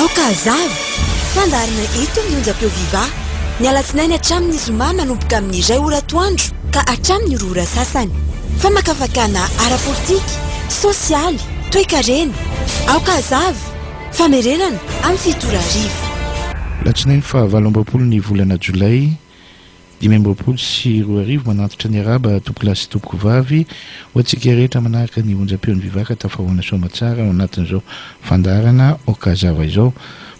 Aoka hazava! Fandaharana eto amin'ny Onjam-peo Viva! Ny alatsinainy hatramin'ny zoma manomboka amin'ny iray ora atoandro ka hatramin'ny roa ora sasany. Famakafakana ara-politika, sosialy, toekarena. Aoka hazava! Famerenana amin'ny fito ora hariva. Alatsinainy fahavalo amby roapolo ny volana Jolay. Dimy amby roapolo sy roa arivo, Manantitra ny Araba, Tompokolahy sy Tompokovavy, ho antsika rehetra manahaka ny onjam-peon'i Vivaka Tafahaona Soamatsara ao anatin'izao fandaharana Okazava izao.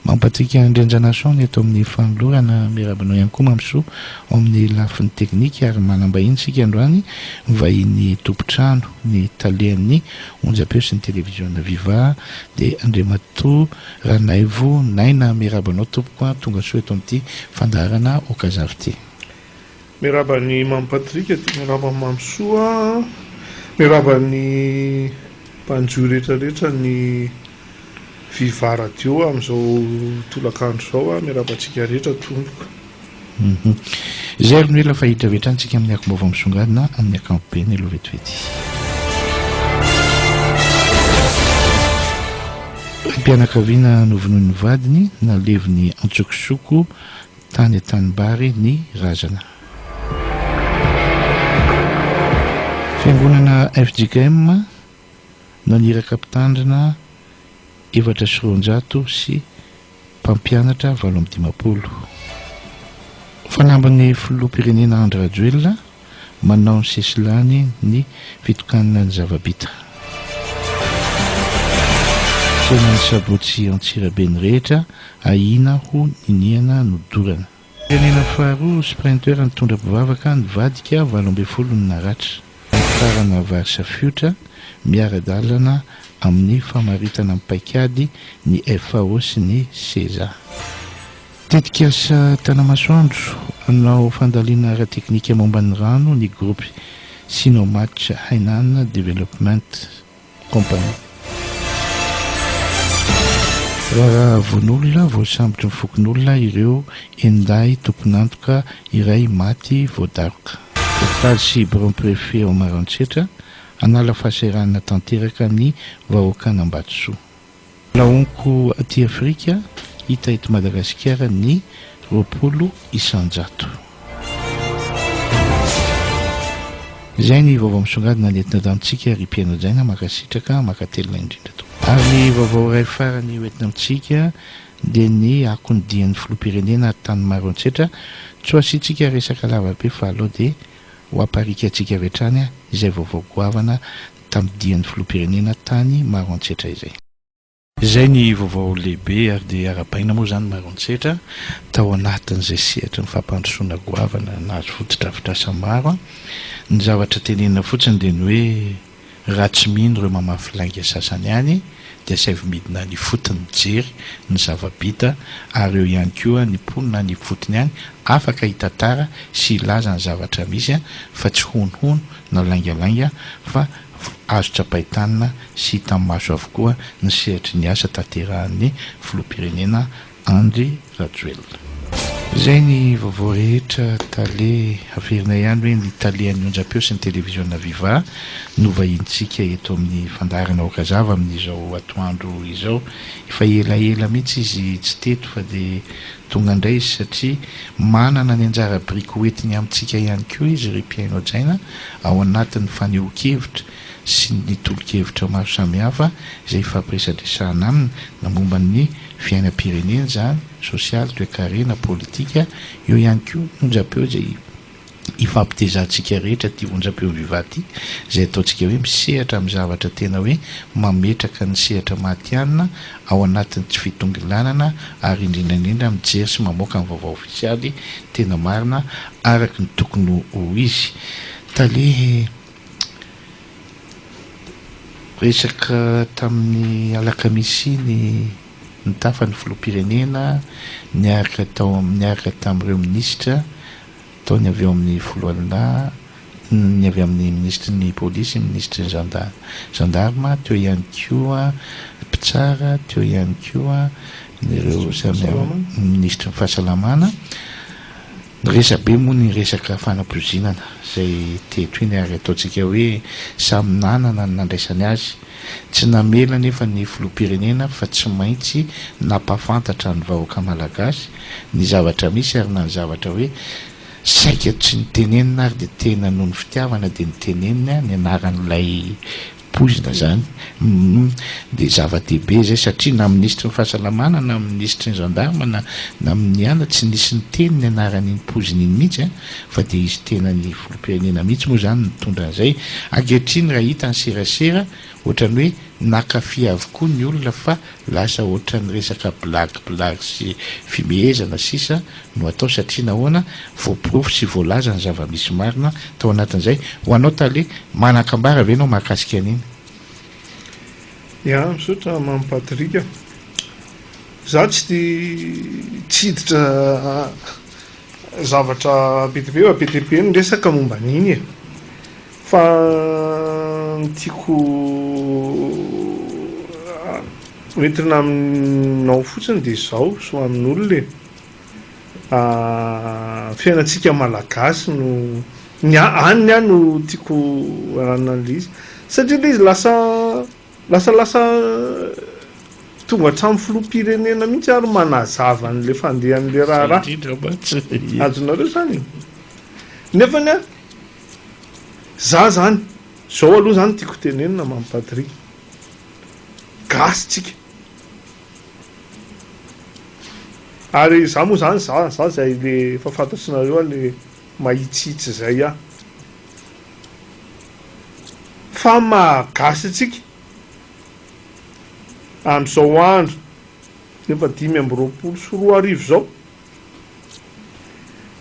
Mampatsiaka Andrianjanason ny eto amin'ny fanolorana. Miarahaba anao ihany koa Mamisoa ao amin'ny lafiny teknika ary manam-bahiny isika androany, vahiny tompon-trano, ny talehan'ny onjam-peo sy ny televiziona Viva dia Andriamatoa Ranaivo Naina Miaraba anao tompoko a, tonga soa eto amin'ity fandaharana Okazavy ity. Miaraba an'i Mamy Patrick aty, miaraba an'i Mamy Soa, miaraba ny mpanjohy rehetra rehetra ny Viva Radio amin'izao tolakandro izao a, miaraba antsika rehetra tompoko. Izay ary no ela fa hiditra avy hatrany isika amin'ny akom-baovao misongadina amin'ny ankapobeny aloha vetivety. Raim-pianakaviana novonoin'ny vadiny, naleviny antsokosoko tany an-tanimbary ny razana. Fiangonana fjkm Naniraka mpitandrina efatra sy roanjato sy mpampianatra valo amby dimampolo. Fanamban'ny Filoham-pirenena Andry Rajoelina manao ny sesilany ny fitokanana ny zava-bita. Tsenan' ny sabotsy Antsirabe ny rehetra ahiana ho niniana nodorana. Firenena faharoa sprinteur nitondra mpivavaka nivadika valo ambin'ny folo ny naratra. Hifarana vary safiotra miara-dalana amin'ny famaritana ny paikady ny FAO sy ny Seza. Tetikasa Tanamasoandro hanao fandalina ara-teknika momba ny rano ny gropy Sinomatch Hainan Development. Company. Raharaha voan'olona voasambotry ny fokonolona ireo enin-dahy tompon'antoka iray maty voadaroka. Hopitaly sy biraon'ny Prefe ao Maroantsetra hanala fahasahiranana tanteraka ny vahoakan'Ambatosoa. Mbola honko aty Afrika, hita eto Madagasikara ny roapolo isan-jato. Izay ny vaovao misongadina nentina eto amintsika ry mpihaino hajaina, mankasitraka, mankatelina indrindra tompoko. Ary ny vaovao iray farany ho entina amintsika dia ny akon'ny dian'ny filoham-pirenena tany Maroantsetra, tsy ho asiantsika resaka lavabe fa alao dia ho aparikantsika avy hatrany izay vaovao goavana tamin'ny dian'ny filoham-pirenena tany Maroantsetra izay. Izay ny vaovao lehibe ary dia arahabaina moa izany Maroantsetra tao anatin'izay sehatry ny fampandrosoana goavana nahazo fotodrafitrasa maro. Ny zavatra tenenina fotsiny dia ny hoe raha tsy mino ireo mamafy lainga sasany any dia asaivo midina any ifotony mijery ny zava-bita ary eo ihany koa ny mponina any ifotony any afaka hitantara sy hilaza ny zavatra misy fa tsy honohono na laingalainga fa azo tsapain-tanana sy hitan'ny maso avokoa ny sehatry ny asa tanterahan'ny Filoham-pirenena Andry Rajoelina. Izay ny vaovao rehetra Tale. Averina ihany hoe ny Tale an'ny onjampeo sy ny televiziona Viva no vahinintsika eto amin'ny fandaharana Aoka Zava amin'izao atoandro izao. Efa elaela mihitsy izy tsy teto fa dia Tonga indray izy satria manana ny anjara biriky hoentiny amintsika ihany koa izy ry mpihaino hajaina ao anatin'ny fanehoan-kevitra sy ny tolo-kevitra maro samihafa izay hifampiresadresahana aminy na momba ny fiainam-pirenena izany, sosialy, toekarena, politika, eo ihany koa onjam-peo izay hifampitezantsika rehetra ity onjam-peo Viva ity izay ataontsika hoe misehatra amin'ny zavatra tena hoe mametraka ny sehatra matihanina ao anatin'ny tsy fitongilanana ary indrindra indrindra mijery sy mamoaka ny vaovao ofisialy tena marina araka ny tokony ho izy. Tale resaka tamin'ny alakamisy iny nitafa ny filoham-pirenena niaraka tao niaraka tamin'ireo minisitra. Tao ny avy ao amin'ny foloalindahy, ny avy amin'ny minisitry ny polisy, ny minisitry ny zandary, zandarma, teo ihany koa mpitsara, teo ihany koa ireo samy hafa, ny minisitry ny fahasalamana. Resabe moa ny resaka fanapoizinana izay teto iny ary ataontsika hoe samy nanana ny nandraisany azy Tsy namela anefa ny filoham-pirenena fa tsy maintsy nampahafantatra ny vahoaka malagasy ny zavatra misy ary na ny zavatra hoe saika tsy nitenenina ary dia tena noho ny fitiavana dia niteneniny ny anaran'ilay poizina izany humm dia zava-dehibe izay satria na minisitry ny fahasalamana na minisitry ny gendarme na na miniana tsy nisy niteny ny anaran'iny poizina iny mihitsy an! Fa dia izy tenan'ny filoham-pirenena mihitsy moa izany nitondra an'izay. Ankehitriny raha hita ny serasera, ohatran'ny hoe naka fy avokoa ny olona fa lasa ohatran'ny resaka blagy blagy sy fimehezana sisa no atao satria nahoana? Voaporofo sy voalaza ny zava-misy marina tao anatin'izay. Ho anao Tale, manan-kambara ve ianao mahakasika an'iny? Ya, misaotra Mamy Patrick a. Izaho tsy dia tsy hiditra Zavatra be dia be be dia be ny resaka momba an'iny e! Fa ny tiako hoentina aminao fotsiny dia izao sy ho amin'olona e! Fiainantsika Malagasy no, ny an'ny ahy no tiako an'analyse satria ilay izy lasa. Lasa lasa tonga hatramin'ny filoham-pirenena mihitsy ary manazava an'ilay fandehan'ilay raharaha. Indrindra mantsy. Azonareo izany e. Nefa ny za izany, izao aloha izany tiako tenenina Mamy Patrick. Gasy tsika. Ary za moa izany za za izay le efa fantatsinareo le mahitsihitsy izay aho. Fa maha gasy antsika amin'izao andro efa dimy amby roapolo sy roa arivo izao,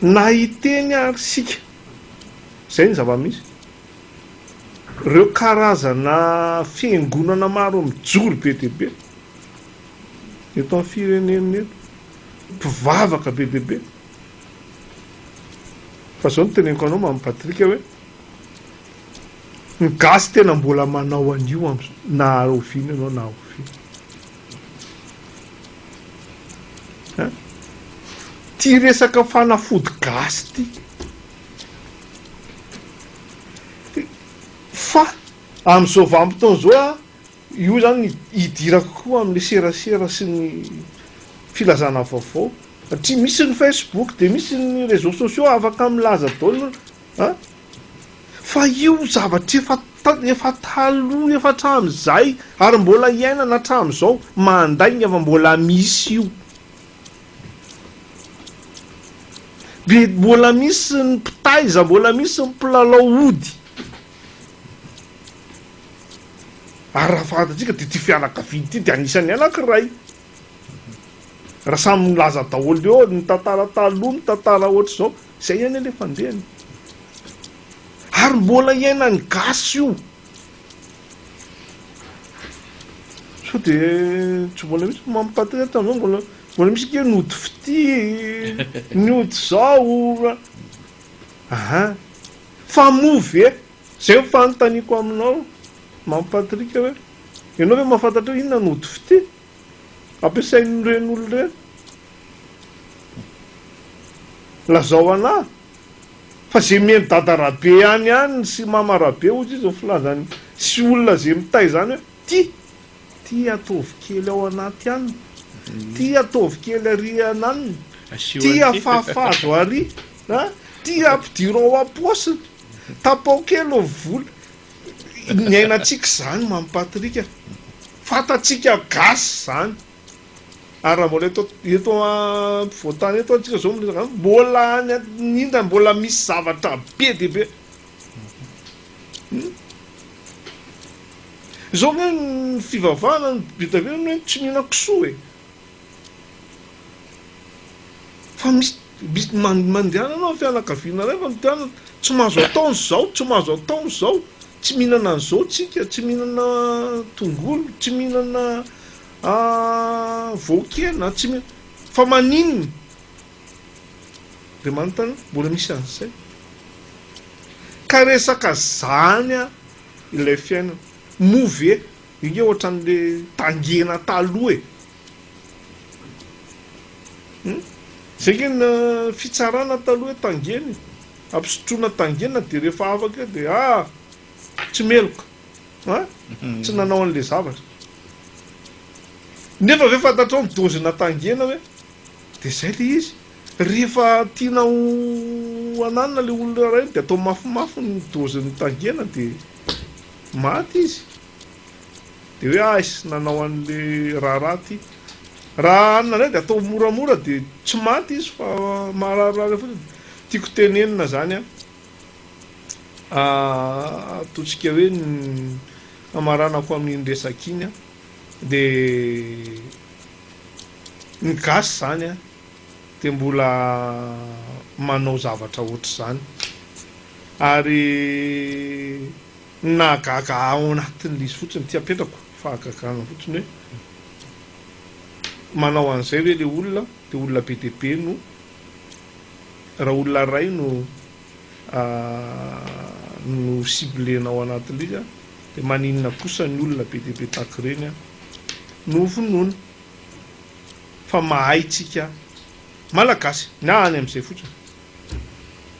na hiteny ary isika, izay ny zava-misy, ireo karazana fiangonana maro mijoro be dia be eto amin'ny firenena eto, mpivavaka be dia be, Fa zao no teneniko anao Mamy Patrick hoe, ny gasy tena mbola manao an'io amzao na oviana ianao na oviana. Hein? Ty resaka fanafody gasy ty. Fa amzao vanim-potoana zao a. Io izany hidirako koa amin'ilay serasera sy ny filazana vaovao satria misy ny Facebook dia misy ny réseaux sociaux afaka milaza daholo an! fa io zavatra efa efa taloha efa hatramin'izay ary mbola iainana hatramin'izao mandainga fa mbola misy io dia mbola misy ny mpitaiza mbola misy ny mpilalao ody Ary raha fahatantsika dia ity fianakaviana ity dia anisan'ny anankiray. Raha samy milaza daholo eo ny tantara taloha, ny tantara ohatr'izao, izay ihany ilay fandehany. Ary mbola iainan'ny gasy io. Sao dia tsy mbola misy mampitantana eto amin'izao mbola mbola misy ange ny ody fitia, ny ody izao. Aha. Fa moa ve, izay no fanontaniako aminao Mamy Patrick hoe, ianao ve mahafantatra hoe inona no ody fitia ampiasain'ireny olona ireny? Lazao anà fa izay mihaino Dada Rabe ihany ihany sy Mama Rabe hozy izy ny filazany sy olona izay mitaiza izany hoe, tia, tia ataovy kely ao anaty ann, tia ataovy kely ary anann, tia afahafa azo ary. A, ty ampidirao ao am-paosiny, tapao kely ô vola, ny ainantsika zany Mamy Patrick a, fantatsika gasy zany, ary raha mbola eto eto ampovoantany eto antsika zao miresaka any, mbola any aninona mbola misy zavatra be dia be, hum zao nge ny fivavahana ny be dia be zany hoe tsy mihinan-kisoa e, Fa misy mandehanana ny fianakaviana iray fa mitohanana, tsy mahazo atao an'izao, tsy mahazo atao an'izao, tsy mihinana an'izao tsika, tsy mihinana tongolo, tsy mihinana voan-kena, tsy mihinana, fa maninona? Andriamanitra anie, mbola misy an'izay. Ka resaka zany ilay fiainana. Moa ve Io nge ohatran'le tangena taloha e! Hum! Zay nge ny fitsarana taloha hoe tangena e! Ampisotroina tangena dia rehefa afaka eo dia ah! Tsy meloka! An! Tsy nanao an'le zavatra. Nefa ve fantatrao ny dozena tangena hoe? Dia zay le izy! Rehefa tiana ho ananina le olona iray dia atao mafimafy ny dozin'ny tangena dia Maty izy dia hoe aisy nanao an'le raharaha ty. Raha hanina indray dia atao moramora dia tsy maty izy fa mahararirary fotsiny. Tiako tenenina zany an, ataontsika hoe ny hamaranako amin'iny resaka iny an, dia ny gasy zany an, dia mbola manao zavatra ohatr'izany. Ary ny nahagaga ahy ao anatin'ilay izy fotsiny, ity apetrako ny fahagagana fotsiny hoe, manao an'izay ve ilay olona dia olona be dia be no, raha olona iray no no ciblena ao anatin'ilay izy dia maninona kosa ny olona be dia be tahaka ireny no vonoina? fa mahay tsika malagasy na any amzay fotsiny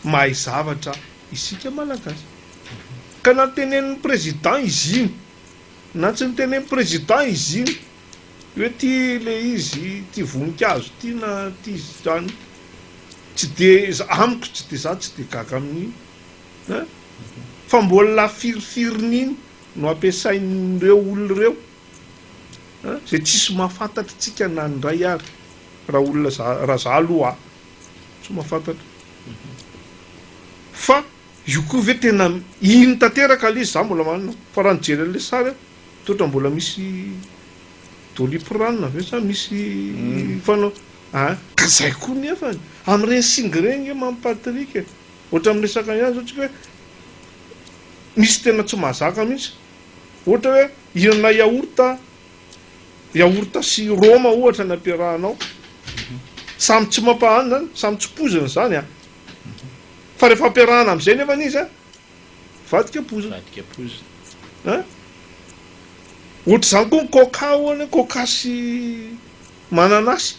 mahay zavatra isika malagasy ka na tenenin'ny président izy iny na tsy nitenen'ny président izy iny hoe ty le izy ty voninkazo ty na ty zany tsy de amiko tsy de za tsy de gaga amin'iny fa mbola firifirin'iny no ampiasain'ireo olona ireo Zay tsisy mahafantatra tsika na ny ray ary raha olona za raha za aloha a tsy mahafantatra fa io koa ve tena iny tanteraka le izy za mbola manana fa raha nijery an'le sary aho toa ohatran'ny mbola misy doliprane ve sa misy mm. fanao a ka zay koa nefany amin'ireny singy ireny nge mamy Patrick e ohatran'ny miresaka ihany zao tsika hoe misy tena tsy mahazaka mihitsy Ohatra hoe hihinana yaourt, yaourt sy roma ohatra ny ampiarahanao. Samy tsy mampahanina izany, samy tsy poizina izany an! Fa rehefa ampiarahana amin'izay nefany izy an, mivadika poizina. Mivadika poizina. An! Ohatr'izany koa ny coca hono e, coca sy mananasy.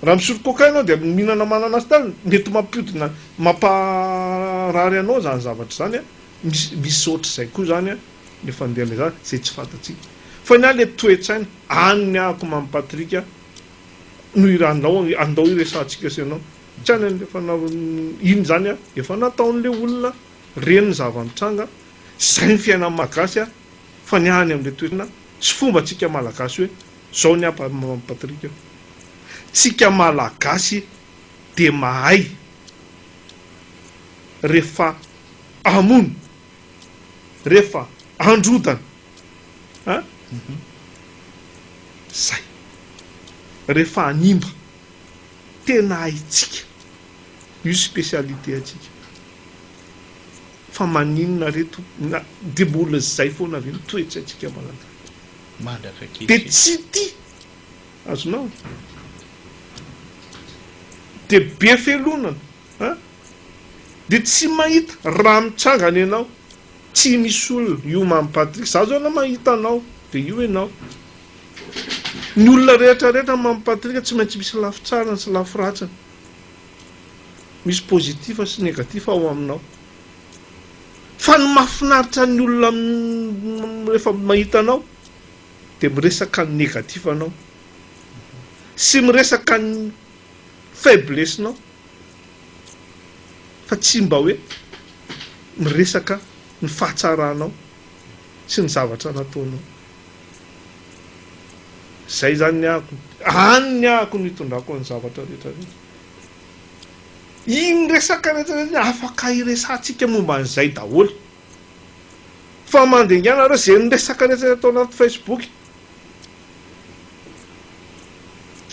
Raha misotro coca ianao dia mihinana mananasy, mety mampiodina, mamparary anao izany zavatra izany an! Misy misy ohatr'izay koa izany an, le fandeha le zany izay tsy fantatsika. Fa ny ahy le toe-tsaina any ny ahako Mamy Patrick a, no iranao andao iresahantsika sy ianao. Tsy any an'le fanaovany iny zany an, efa nataon'le olona reny ny zava-nitranga, zay ny fiainan'ny Magasy an, fa ny ahy any am'le toe-tsaina sy fomba tsika Malagasy hoe zao ny ahy Mamy Patrick a, tsika Malagasy de mahay rehefa hamono rehefa androdana an! zay rehefa hanimba tena haintsika io spécialité antsika fa maninona re tompoko na dia mbola zay foana ve ny toetsaintsika manan-tany dia tsy tia azonao e! dia be fialonana. An! Dia tsy mahita raha mitsangana ianao tsy misy olona io Mamy Patrick za zao na mahita anao dia io ianao Ny olona rehetra rehetra Mamy Patrick tsy maintsy misy lafy tsarany sy lafy ratsiny misy positif sy negatif ao aminao fa ny mahafinaritra ny olona rehefa mahita anao dia miresaka ny negatif anao sy miresaka ny faiblesse nao fa tsy mba hoe miresaka ny fahatsaranao sy ny zavatra nataonao. Izay izany ny ahako, any ny ahako no itondrako ny zavatra rehetra rehetra. Iny resaka rehetra rehetra iny afaka iresahantsika momba an'izay daholo. Fa mandringa nareo izay miresaka rehetra rehetra ato anaty Facebook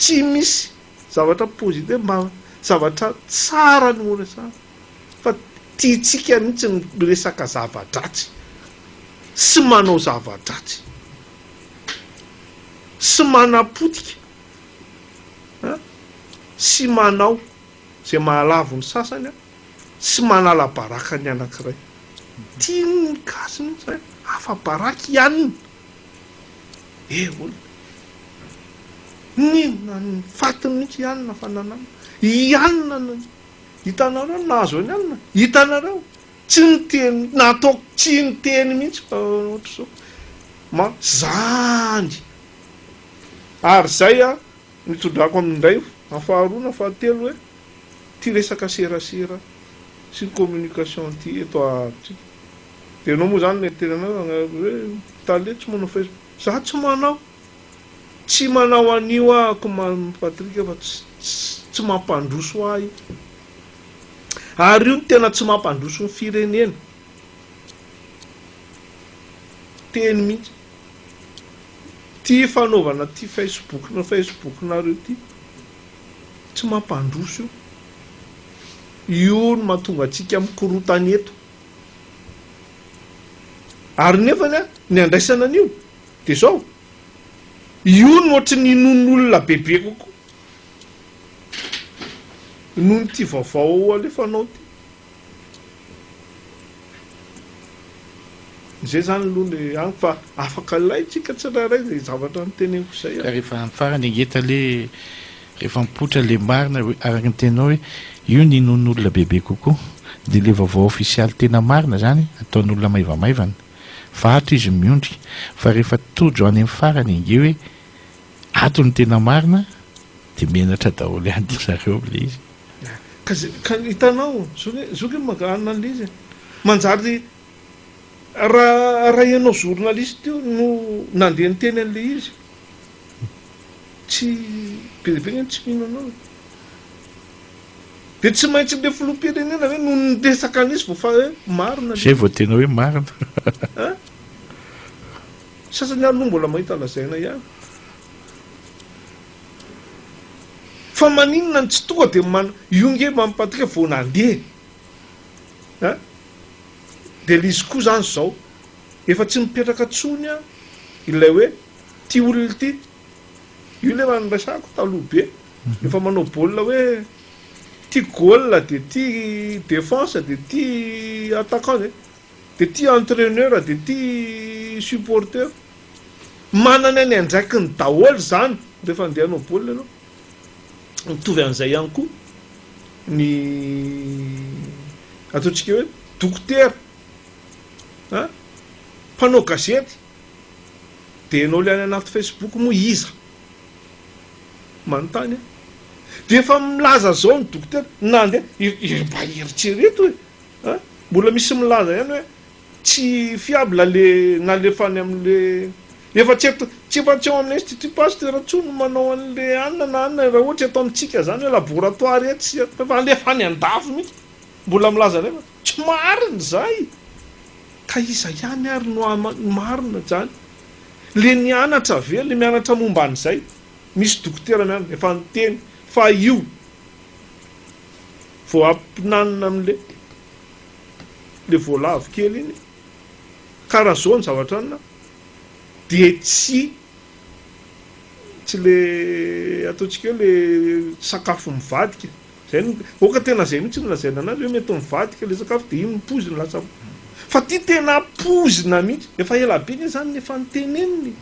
tsy misy Zavatra positif mba zavatra tsara no horesahana fa tiantsika mihitsy ny miresaka zava-dratsy sy manao zava-dratsy sy manapotika an sy manao izay mahalavo ny sasany an sy manala baraka ny anankiray. Tian'ny gasy mihitsy hoe afa-baraka i anona. Eh olona. N'inona ny fatiny mihitsy i Anna fa nananona. I Anna no hitanareo ny nahazo an'i Anna? Hitanareo? Tsy niteny, nataoko tsy niteny mihitsy fa ohatr'izao. Ma, zany. Ary izay an, no itondrako amin'ny indray na faharoa na fahatelo hoe, ity resaka serasera sy ny communication ity eto amintsika. Dia ianao moa izany mety tena anao hoe hoe tale tsy manao facebook. Za tsy manao. Tsy manao an'io aho ko Mamy Patrick fa tsy tsy mampandroso ahy io. Ary io no tena tsy mampandroso ny firenena. Teny mihitsy. Ty fanaovana ty facebook na facebook nareo ty tsy mampandroso io. Io no mahatonga antsika mikorontana eto. Ary nefany ny andraisana an'io dia izao, io no ohatry ny inoan'olona bebe kokoa noho ity vaovao alefanao ity. Izay izany aloha ny amiko fa afaka alaintsika tsirairay izay zavatra noteneniko izay. Ka rehefa amin'ny farany engeta le Rehefa mipoitra le marina hoe araka ny teninao hoe io ny inoan'olona bebe kokoa dia le vaovao ofisialy tena marina zany ataon'olona maivamaivana. Vato izy ny miondrika fa rehefa tojo any amin'ny farany ange hoe ato ny tena marina dia menatra daholo ihany dry zareo ilay izy. Ka hitanao zoky io maka analyse e! Manjary raha ianao journaliste io no nandeha niteny an'ilay izy. Tsy be dia be ny tsy mino anao e! Dia tsy maintsy ilay filoham-pirenena ve no niresaka an'izy vao fa hoe marina ilay izy? Izay vao tena hoe marina. An! Ny sasany ary aloha mbola mahita lazaina ihany. Fa maninona no tsy tonga dia man, io nge Mamy Patrick vao nandeha an! Dia ilay izy koa izany izao efa tsy mipetraka intsony an! ilay hoe. ty olona ity. Io le raha niresahako taloha be. Rehefa manao baolina hoe ty goal dia ty défense dia ty attaquant dia dia ty entraineur dia ty supporter. Manana ny andraikiny daholo izany rehefa andeha hanao baolina ianao. Mitovy an'izay ihany koa ny ataontsika hoe dokotera, mpanao gazety. Dia ianao ilay any anaty Facebook moa iza? Manontany aho. Dia efa milaza izao ny dokotera, nandeha, mba eritrereto e! An! Mbola misy milaza ihany hoe tsy fiable ilay nalefany amin'ilay, efa tsy eto, tsy efa tsy ao amin'ny Institut Pasteur intsony no manao an'ilay anona na anona, raha ohatra eto amintsika izany hoe laboratoire etsy sy eroa, fa efa alefa any an-dafy mihitsy, mbola milaza an'efany. Tsy marina izay! Ka iza ihany ary no hama ny marina izany? Le nianatra ve? Le mianatra momba an'izay? Misy dokotera mianatra efa niteny fa io vao ampinanina amin'le le voalavo kely iny ka raha zao ny zavatra anina dia tsy tsy le ataontsika hoe le sakafo mivadika. Zay no ok tena zay mihitsy no lazaina anazy hoe mety mivadika ilay sakafo dia iny no poizina lasa fa ity tena poizina mihitsy efa ela be anie zany no efa notenenina e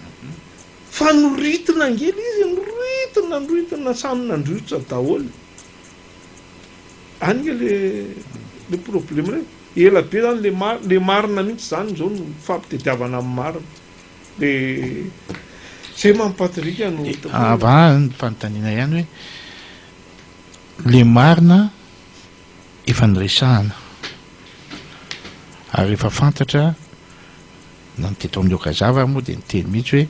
fa noritina ange ilay izy noritina noritina samy nandrosotra daholo any nge le le probleme re ela be zany le mar le marina mihitsy zany izao no fampitediavana amin'ny marina de zay mampatirika no ah, avy any fanontaniana ihany hoe le marina efa niresahana ary efa fantatra na ny teto amin'ny Okazava ary moa dia niteny mihitsy hoe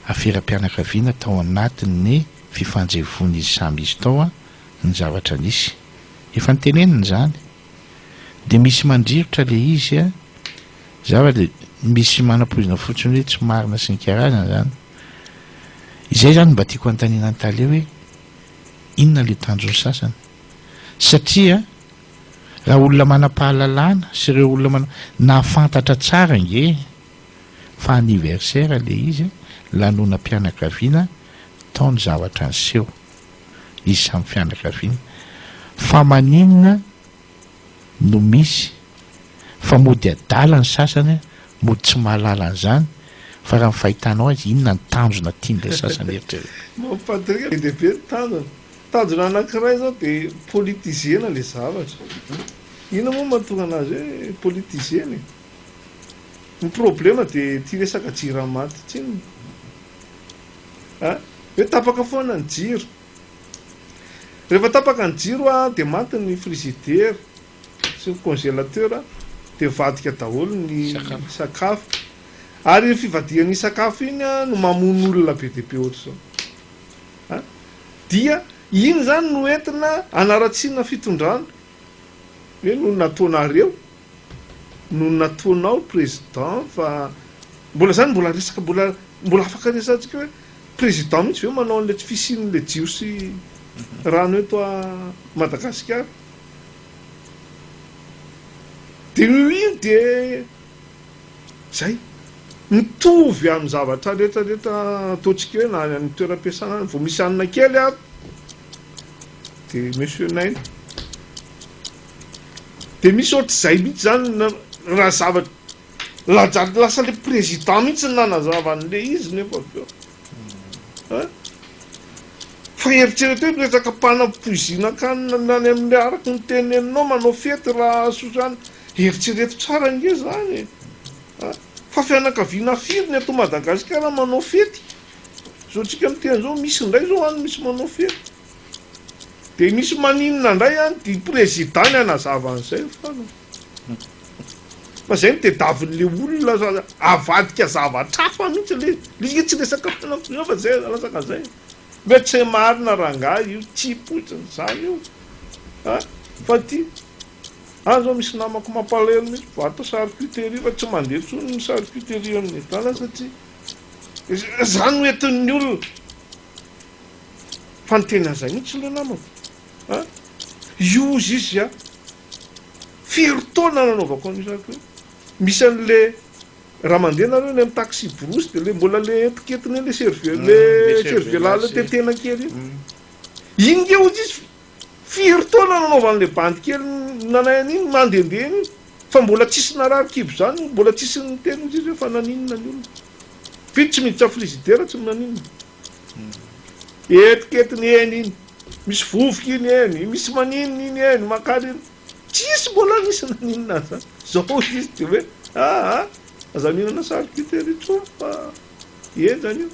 aferam-pianakaviana tao anatin'ny fifanjevoan'izy samy izy tao ny zavatra nisy. Efa nitenenina izany. Dia misy mandrirotra ilay izy zavatra dia misy manapoizina fotsiny hoe tsy marina sy ny karazany izany. Izay izany no mba tiako hanontaniana an'i Tale hoe inona ilay tanjon'ny sasany? Satria raha olona manam-pahalalana sy ireo olona manam-, nahafantatra tsara ange fa anniversaire ilay izy an, lanonam-pianakaviana tao ny zavatra niseho, izy samy fianakaviana, fa maninona no misy Fa mody adala ny sasany, mody tsy mahalala an'izany, fa raha ny fahitanao azy, inona ny tanjona tian'ilay sasany eritreretina? Maman Patrick, be dia be ny tanjona. Tanjona anankiray izao dia politiser-na ilay zavatra. Inona moa no mahatonga an'azy hoe politiser-na e? Ny problema dia ity resaka jirama ity tsinona a! Hoe tapaka foana ny jiro. Rehefa tapaka ny jiro dia maty ny frizidera, Sur congélateur dia avadika daholo ny sakafo ary iny fivadihan'iny sakafo iny no mamono olona be dia be ohatr'izao a! dia iny izany no entina anaratsiana fitondrana hoe noho ny nataonareo noho ny nataonao président fa mbola izany mbola resaka mbola mbola afaka resahantsika hoe président mihitsy ve manao an'ilay tsy fisian'ilay jiosy rano eto Madagasikara Dia io dia izay. Mitovy amin'ny zavatra rehetra rehetra ataontsika eo na any amin'ny toeram-piasana any. Vao misy hanina kely ary dia monsieur naina. Dia misy ohatr'izay mihitsy izany raha zavatra. Lasa ilay président mihitsy no nanazava an'ilay izy nefa avy eo. Fa eritrereto hoe resaka mpanam-poizina kanina ny any amin'ny araka ny teneninao manao fety rahasoa izany eritrereto tsara ange zany e! Fa fianakaviana firy ny eto Madagasikara manao fety? Zao antsika miteny zao misy indray zao any misy manao fety de misy maninona indray any dia president ny hanazava an'izay hoy fanina. Fa zay no tedavonle olona fa avadika zavatra hafa mihitsy le izy tsy resaka finoana finoana fa zay latsaka zay mety tsy marina rangahy io tsy poizina zany io a fa ty any zao misy namako mampalahelo mihitsy vato charcuterie fa tsy mandeha intsony ny charcuterie amin'ny tana satria zany no entin'ny olona fa ny tena zay mihitsy le namako a io izy izy a Firy taona nanaovako an'io zaka io. Misy an'le raha mandeha nareo any amin'ny taxi brousse de le mbola le etiketiny eo le cervelas le cervelas le tetehina kely iny. Iny nge hozy izy firy taona nanaovany le bandy kely nanay an'iny mandehandeha eny iny fa mbola tsisy narary kibo zany mbola tsisy niteny hozy izy hoe fa naninona ny olona. Vita tsy miditra frigidaire tsy naninona. Etiketiny eny iny, misy vovoka iny eny, misy maninona iny eny, makarina. Tsisy mbola nisy naninona an'izany. Zao izy dia hoe aa aza mihinana charcuterie intsony fa henjana io.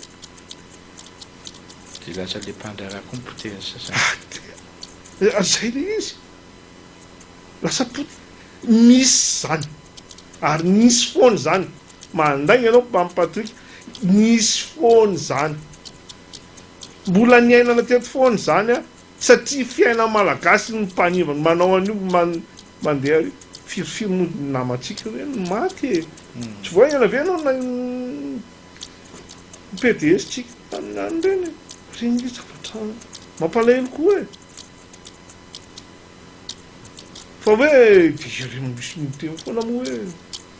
Dia lasa le mpandraharaha koa ny potehan'ny sasany. Ary zay le izy. Lasa potika. Nisy izany. Ary nisy foana izany. Mandainga ianao Mamy Patrick. Nisy foana izany. Mbola niainana teto foana izany an. Satria fiainan'ny Malagasy ny mpanimba, ny manao an'io, mandeha io. Firifiry moa ny namantsika hoe no maty e. Tsy vao haingana ve ianao ny PDS-tsika tamin'ny an'ireny e. Ireny ve zavatra mampalahelo koa e. Fa ve jereo misy miteny foana moa hoe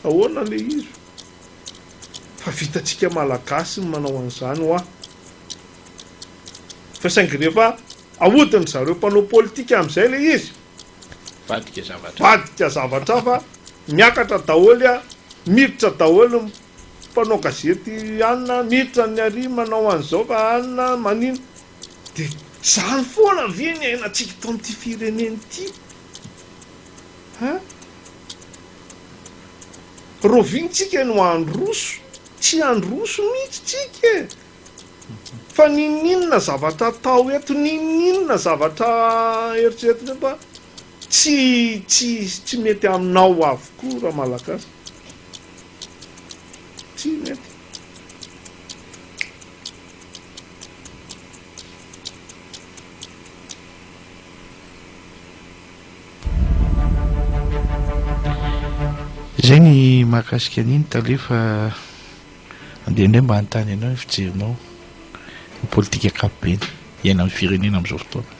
ahoana le izy? Fa vitantsika malagasy ny manao an'izany hoa. Fa saingy rehefa ahodin'ny zareo mpanao politika amin'izay le izy, vadika zavatra vadika zavatra hafa, miakatra daholo a, miditra daholo ny mpanao gazety anona, miditra ny aria manao an'izao fa anona, manino, Dia izany foana ve ny iainantsika eto amin'ity firenena ity an? Rahoviana tsika no handroso? Tsy handroso mihitsy tsika e! Fa n'inon'inona zavatra atao eto, n'inon'inona zavatra eritreretina eto an, tsy tsy tsy mety aminao avokoa Ramalagasy. Tsy mety. Izay ny mahakasika an'iny tale fa andeha indray mba hanontany anao ny fijerinao ny politika ankapobeny iainan'ny firenena amin'izao fotoana.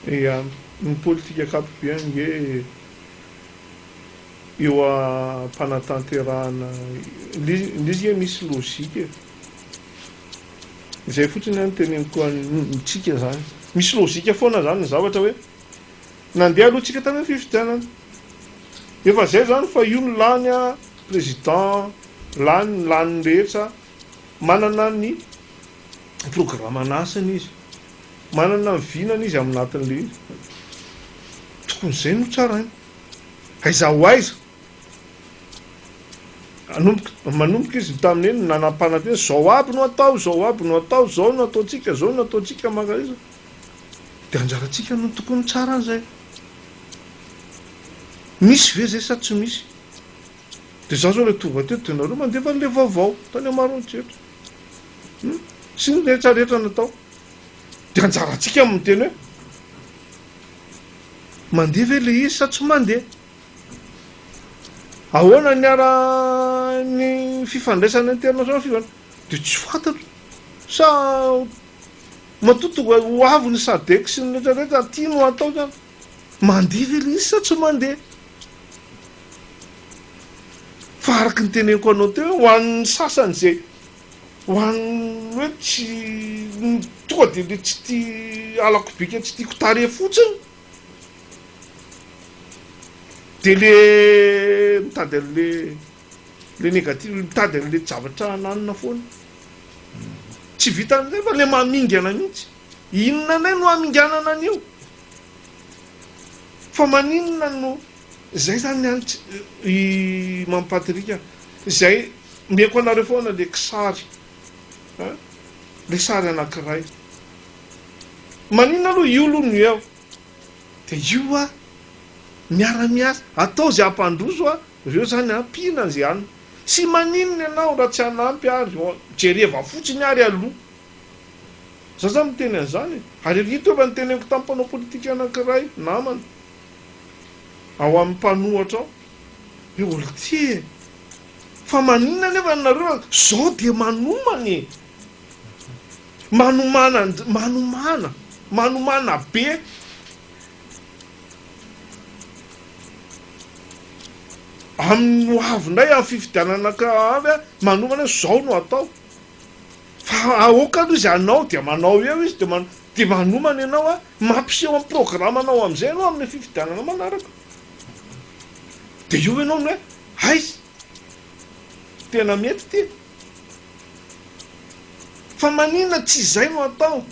Ia, ny politika ankapobeny ange eo am-panatanterahana, ilay izy ange misy logique e. Izay fotsiny aho no teneniko antsika zany. Misy lojika foana zany ny zavatra hoe nandeha aloha tsika tany am fifidianana. Efa zay zany fa io no lany a president lany ny lany ny rehetra manana ny programa an'asany izy. Manana ny vinany izy aminatin'le izy. Tokony zay no tsaraina. Aiza ho aiza. Nanomboka, manomboka izy tamin'ny eny nanampanantena, izao aby no atao, izao aby no atao, izao no ataontsika, izao no ataontsika maka izy. Dia anjarantsika no tokony mitsara an'izay. Misy ve izay sa tsy misy? Dia izaho izao ilay tonga teto dia nareo mandefa an'ilay vaovao tany Amarony Jetra. Hmm? Sy ny rehetra rehetra natao. Dia anjarantsika amin'ny teny hoe mandeha ve ilay izy sa tsy mandeha? Ahoana ny ara ny fifandraisana international fivan de tsy fantatro sa matoa tonga ho avy ny sadec sy ny rehetra rehetra aty no atao zany mandeha ve le izy sa tsy mandeha fa araky ny teneniko anao teo ho an'ny sasany ze ho an'ny hoe tsy tonga de le tsy tia alako bika tsy tiako tarehy fotsiny. Dia le mitady an'le le negatif, le mitady an'le javatra hananina foana. Tsy vitan'ny zay fa le mamingana mihitsy. Inona indray no haminganana an'io? Fa maninona no zay zany an i Mamy Patrick a, zay omeko anareo foana le kisary an, le sary anankiray Maninona aloha io aloha no eo dia io hoa miara miasa atao izay hampandroso hoa reo zany an mpihina izay hanina sy maninona ianao raha tsy hanampy ary hoa jereva fotsiny ary aloha za zany miteny an'izany e ary efa ito efa noteneniko tamin'ny mpanao politika anankiray namana ao amin'ny mpanohatra ao hoe oltia e fa maninona nefa nareo zao dia manomana e. Manomana and manomana manomana be. Aminy ho avy indray amin'ny fifidianana ka avy a manomana hoe zao no atao fa aoka aloha izy hanao dia manao eo izy de man de manomana ianao a mampiseho am programanao amizay ianao amle fifidianana manaraka de eo ianao no hoe aiza tena mety ty. Fa manina tsy izay no atao.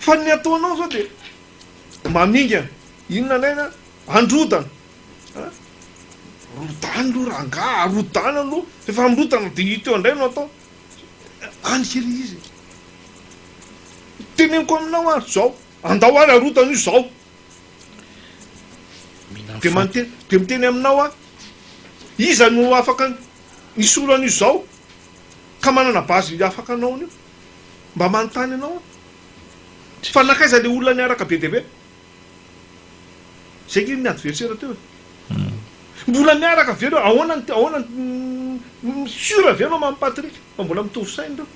Fa ny ataonao zao dia mamingana. Inona indray na androdana. An! Rodano aloha rangaha, arodano aloha. Rehefa amrodana dia ito indray no atao. Any kely izy e. Teneniko aminao ary zao, andao ary arodano io zao. Dia miteny aminao aho, iza no afaka Misy olo anio zao ka manana base afaka anao anio mba manontany anao aho fa nakaiza le olona niaraka be dia be? zay nge ny adversaire teo e! mbola miaraka ve reo? ahoana ny ahoana ny sur ve anao Mamy Patrick fa mbola mitovy saina reo?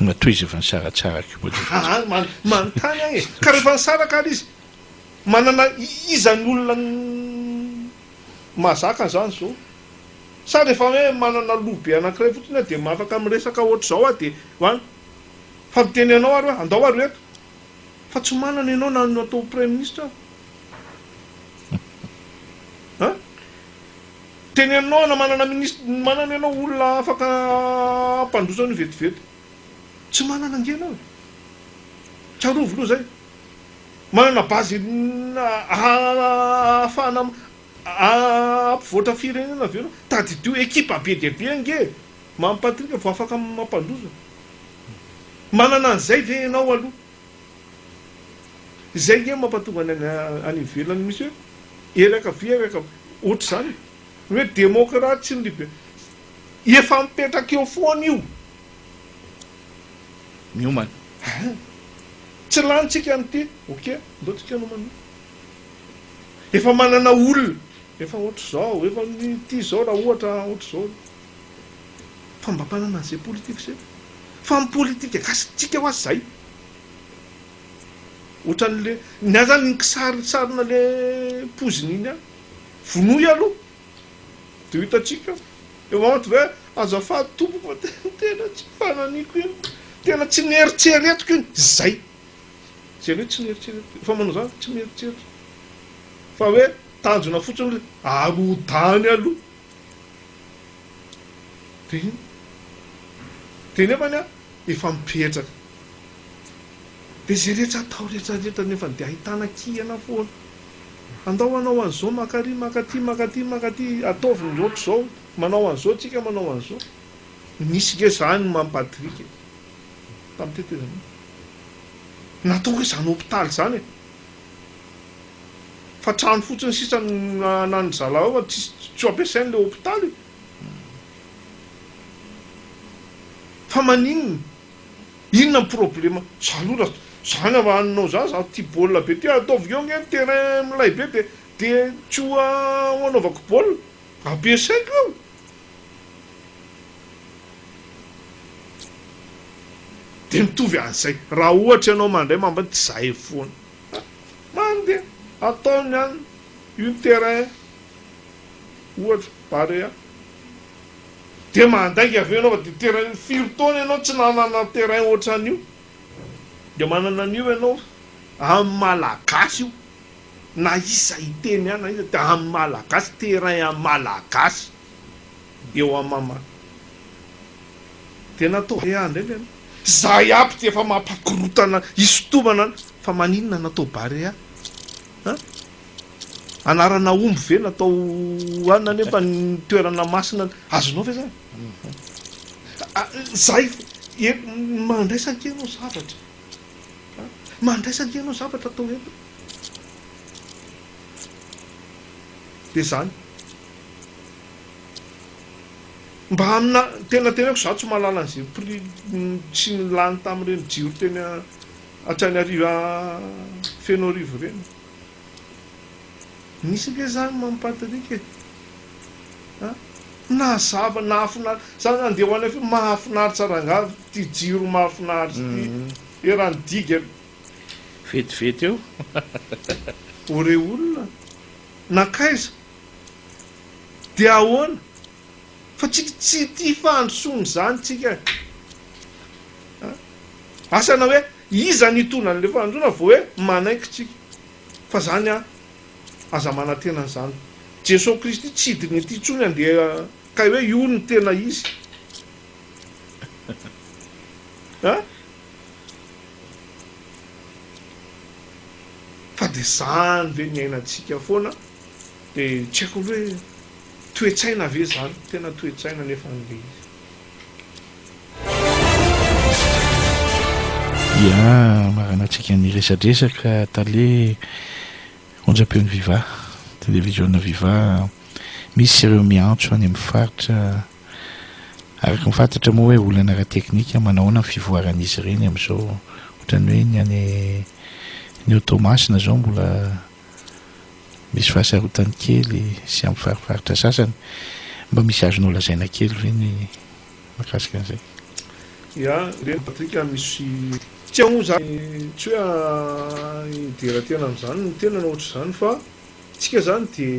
Mba tohizava nisaratsara ko mba le. Aa manontany aho e! ka rehefa nisaraka ary izy manana iza ny olona Mahazaka izany izao. Sa rehefa hoe manana loha be anankiray fotsiny aho dia afaka miresaka ohatr'izao aho dia hoany? Fa miteny anao ary hoe andao ary eto. Fa tsy manana ianao na ny atao praiminisitra aza. An? Teny aminao na manana minisitra, manana ianao olona afaka hampandroso an'io vetivety. Tsy manana ange ianao e. Tsarovy aloha izay. Manana base ahafahana hampivoatra firenena avy eo ianao. Tadidio ekipa be dia be ange e! Mamy Patrick vao afaka mampandroso. Manana an'izay ve ianao aloha? Izay ange no mampatonga ny any ivelany misy hoe ery ankavia ery ankavia. Ohatr'izany e! Ny hoe demokraty sy ny libe. Efa mipetraka eo foana io. miomana. Aha! Tsy lanintsika ny ity. Ok, ndao tsika nomana. Efa manana olona, efa ohatr'izao, efa ity izao raha ohatra ohatr'izao. Fa mba manana an'izay politika izay. Fa ny politika gasy tsika ho'azy izay. Ohatran'ilay, ny ahy izany ny kisarisarina ilay poizina iny ihany. Vonoy aloha. Dia ho hitantsika eo aout ve? Azafady tompoko fa tena tsy fananiko iny, tena tsy neritreretiko iny, zay. Zay hoe tsy neritreretiko iny, efa manao zany fa tsy mieritreritra fa hoe tanjona fotsiny le arodany aloha. Dia iny. Dia nefany an, efa mipetraka. Dia zay rehetra atao rehetra rehetra nefany dia ahitana kihana foana. Andao hanao an'izao, maka ary maka aty, maka aty, maka aty, ataovy ny loatra izao, manao an'izao tsika, manao an'izao. Nisy nge zany ny mampatrick e! Tamin'ny tetezamita. Natao hoe izany hopitaly izany e! Fa trano fotsiny sisa no anan'ny zalahy ao, tsisy, tsy ho ampiasaina ilay hopitaly e! Fa maninona? Inona ny problema? Za aloha raha za na hanao za za tia baolina be ty ataovy eo nge ny terrain milay be de de tsy ho anaovako baolina ampiasaiko eo. De mitovy an'izay raha ohatra ianao mandray mambiny tsy zahay foana. Many de ataony any une terrain ohatra barea. Dia mandainga avy eo ianao fa dia terrain firy taona ianao tsy nanana terrain ohatran'io? Dia manana an'io ianao amin'ny malagasy io na iza hiteny ahy na iza dia amin'ny malagasy terrain an'ny malagasy dia eo amin'ny mama dia natao vé indray ve ianao? Zay aby dia efa mampakorotana hisintomana fa maninona natao barea an? Anarana omby ve natao hohanina nefa ny toerana masina azonao ve zany? Ah, zay e, mandraisa aty ianao zavatra. Ah, mandraisa aty ianao zavatra atao eto. De zany. Mba amina tena teneko za tsy mahalala an'izay prix tsy nilany tamin'ireny jiro teny a- Antananarivo a- Fenoarivo ireny. Misy ange zany Mamy Patrick e! an! Nazava, nahafinaritra, za nandeha ho any avion, mahafinaritra rangaha ity jiro mahafinaritra ity, eran'ny diga aloha. Vetivety eo. O re olona, nankaiza? Dia ahoana? Fa tsika tsy tia fandrosoana izany tsika e! an! Asa na hoe Iza no hitondra an'ilay fanandroana vao hoe manaiky tsika fa zany an aza manantena an'izany Jesoa Kristy tsy hidina ety intsony andeha kay hoe io no tena izy an fa dia zany ve niainantsika foana dia tsy haiko aloha hoe toetsaina ve zany tena toetsaina nefa an'ilay izy. Dia maranantsika ny resadresaka tale onjam-peon'ny Viva, televiziona Viva, misy ireo miantso any amin'ny faritra araka ny fantatra moa hoe olana ara-teknika, manahoana ny fivoaran'izy ireny amin'izao, ohatran'ny hoe ny any ny ao Toamasina izao mbola Misy fahasarotany kely sy amin'ny fariparitra sasany. Mba misy azonao lazaina kely ve ny mahakasika an'izay? Ya, Reny Patrick misy. Tsy ahoa izany, tsy hoe hidera tena amin'izany ny tenany ohatr'izany fa isika izany dia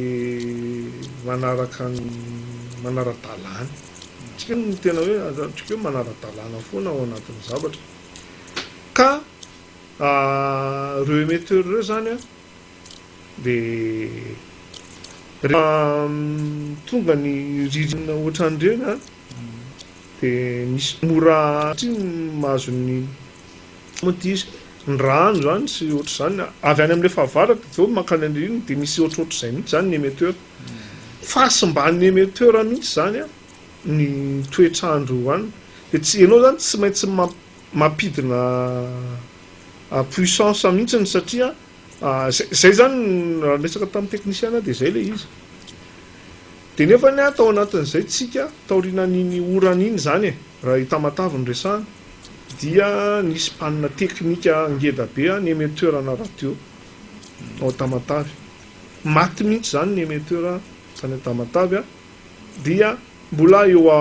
manaraka ny manara-dalàna. Isika no tena hoe, azo lazaina hoe manara-dalàna foana ao anatin'ny zavatra ka. Ireo émetteurs ireo izany dia rehefa tonga ny ririnina ohatran'ireny dia misy mora satria ny mahazo ny moa ity izy, ny rano izany sy ohatr'izany, avy any amin'ilay fahavaratra avy eo mankany amin'ny ririnina dia misy ohatrohatr'izay mihitsy izany ny émetteur. Fahasimban'ny émetteur mihitsy izany ny toetr'andro any dia tsy, ianao izany tsy maintsy mamp-. mampidina puissance mihitsy ny satria zay zany raha niresaka tamin'ny teknisiana dia zay le izy dia nefa ny ahy tao anatin'izay tsika taorinan'iny orana iny zany e raha i Tamatave no resahana dia nisy panina teknika ngeda be ny emetteur ana radio ao Tamatave maty mihitsy zany ny emetteur tany Tamatave dia mbola eo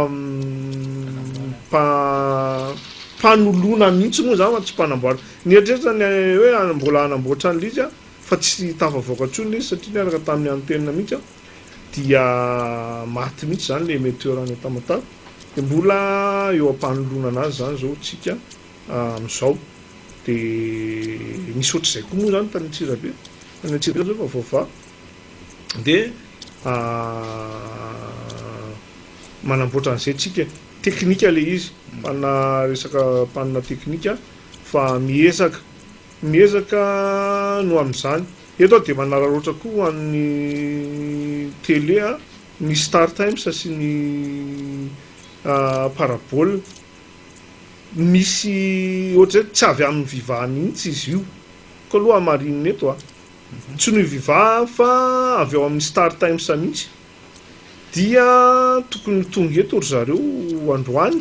am-panoloana mihitsy moa izany fa tsy mpanamboarana. Nieritreritra ny hoe mbola hanamboatra an'ilay izy aho fa tsy tafavoaka intsony ilay izy satria niaraka tamin'ny antenina mihitsy aho dia maty mihitsy izany ilay emetteur any Tamatave dia mbola eo am-panoloana an'azy izany izao isika amin'izao. Dia nisy ohatr'izay koa moa izany tany Antsirabe, tany Antsirabe izao efa voavaha. dia manamboatra an'izay tsika, teknika ilay izy, mpanina resaka mpanina teknika fa miezaka miezaka no amin'izany. Eto aho dia manararaotra koa ho an'ny télé a, ny Star Times sy ny Parabole, misy ohatr'izay tsy avy amin'ny Viva mihitsy izy io, koa aloha hamarinina eto a. tsy noho i Viva fa avy ao amin'ny Star Times mihitsy dia tokony ho tonga eto ry zareo androany